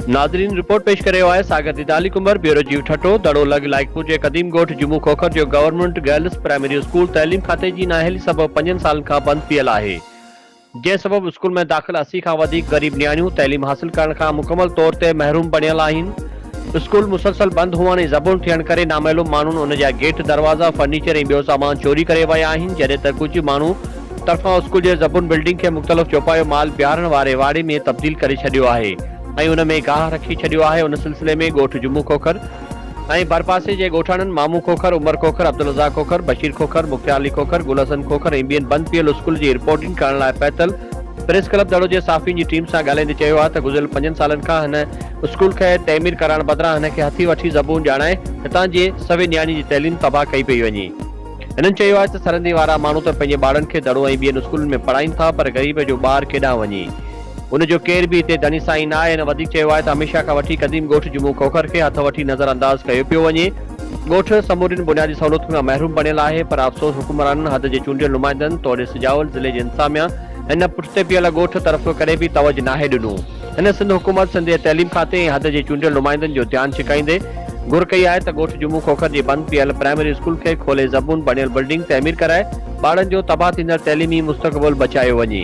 ناظرين رپورٽ پيش ڪري رهيو آهي ساگر ديدالي ڪنڀر بيورو جيو ٺٽو دڙو لڳ لائقپور جي قديم ڳوٺ جمو کوکر جو گورنمنٽ گرلس پرائمري اسڪول تعليم کاتي جي نااهلي سبب پنجن سالن کان بند پيل آهي جنهن سبب اسڪول ۾ داخل اسي کان وڌيڪ غريب نياڻيون تعليم حاصل ڪرڻ کان مڪمل طور تي محروم بڻيل آهن. اسڪول مسلسل بند هئڻ ۽ زبون ٿيڻ ڪري نامعلوم ماڻهن ان جا گيٽ، دروازا، فرنيچر ۽ ٻيو سامان چوري ڪري ويا آهن جڏهن ته ڪجهه ماڻهو طرفان اسڪول جي زبون بلڊنگ کي مختلف چوپايو مال بيهارڻ واري واڙي ۾ تبديل ڪري ڇڏيو آهي ۽ ان ۾ گاهه رکي ڇڏيو آهي ان سلسلي ۾ ڳوٺ جمعو کوکر ۽ ڀرپاسي جي ڳوٺاڻن مامو کوکر، عمر کوکر، عبدالرزاق کوکر، بشير کوکر، مختيار علي کوکر، گل حسن کوکر ۽ ٻين بند پيل اسڪول جي رپورٽنگ ڪرڻ لاء پهتل پريس ڪلب دڙو جي صحافين جي ٽيم سان ڳالهائيندي چيو آهي ته گذريل پنجن سالن کان هن اسڪول کي تعمير ڪرائڻ بدران هن کي هٿي وٺي زبون ڄاڻائي هتان جي سوين نياڻين جي تعليم تباهه ڪئي پئي وڃي. هنن چيو آهي ته سرندي وارا ماڻهو ته پنهنجي ٻارڙن کي دڙو ۽ ٻين اسڪولن ۾ پڙهائين ٿا پر غريب جو ٻار ڪيڏانهن وڃي هن جو ڪير به هتي داني سائين نه آهي. هن وڌيڪ چيو آهي ته هميشه کان وٺي قديم ڳوٺ جمون کوکر کي هٿ وٺي نظر انداز ڪيو پيو وڃي. ڳوٺ سمورين بنيادي سهولتن کان محروم بڻيل آهي پر افسوس حڪمرانن حد جي چونڊيل نمائندن توڙي سجاول ضلعي جي انتظاميا هن پٺتي پيل ڳوٺ طرف ڪڏهن به توجه ناهي ڏنو. هن سنڌ حڪومت، سنڌ جي تعليم کاتي ۽ حد جي چونڊيل نمائندن جو ڌيان ڇڪائيندي گهر ڪئي آهي ته ڳوٺ جمون کوکر جي بند پيل پرائمري اسڪول کي کولي زبون بڻيل بلڊنگ تعمير ڪرائي ٻارن جو تباهه ٿيندڙ تعليمي مستقبل بچايو وڃي.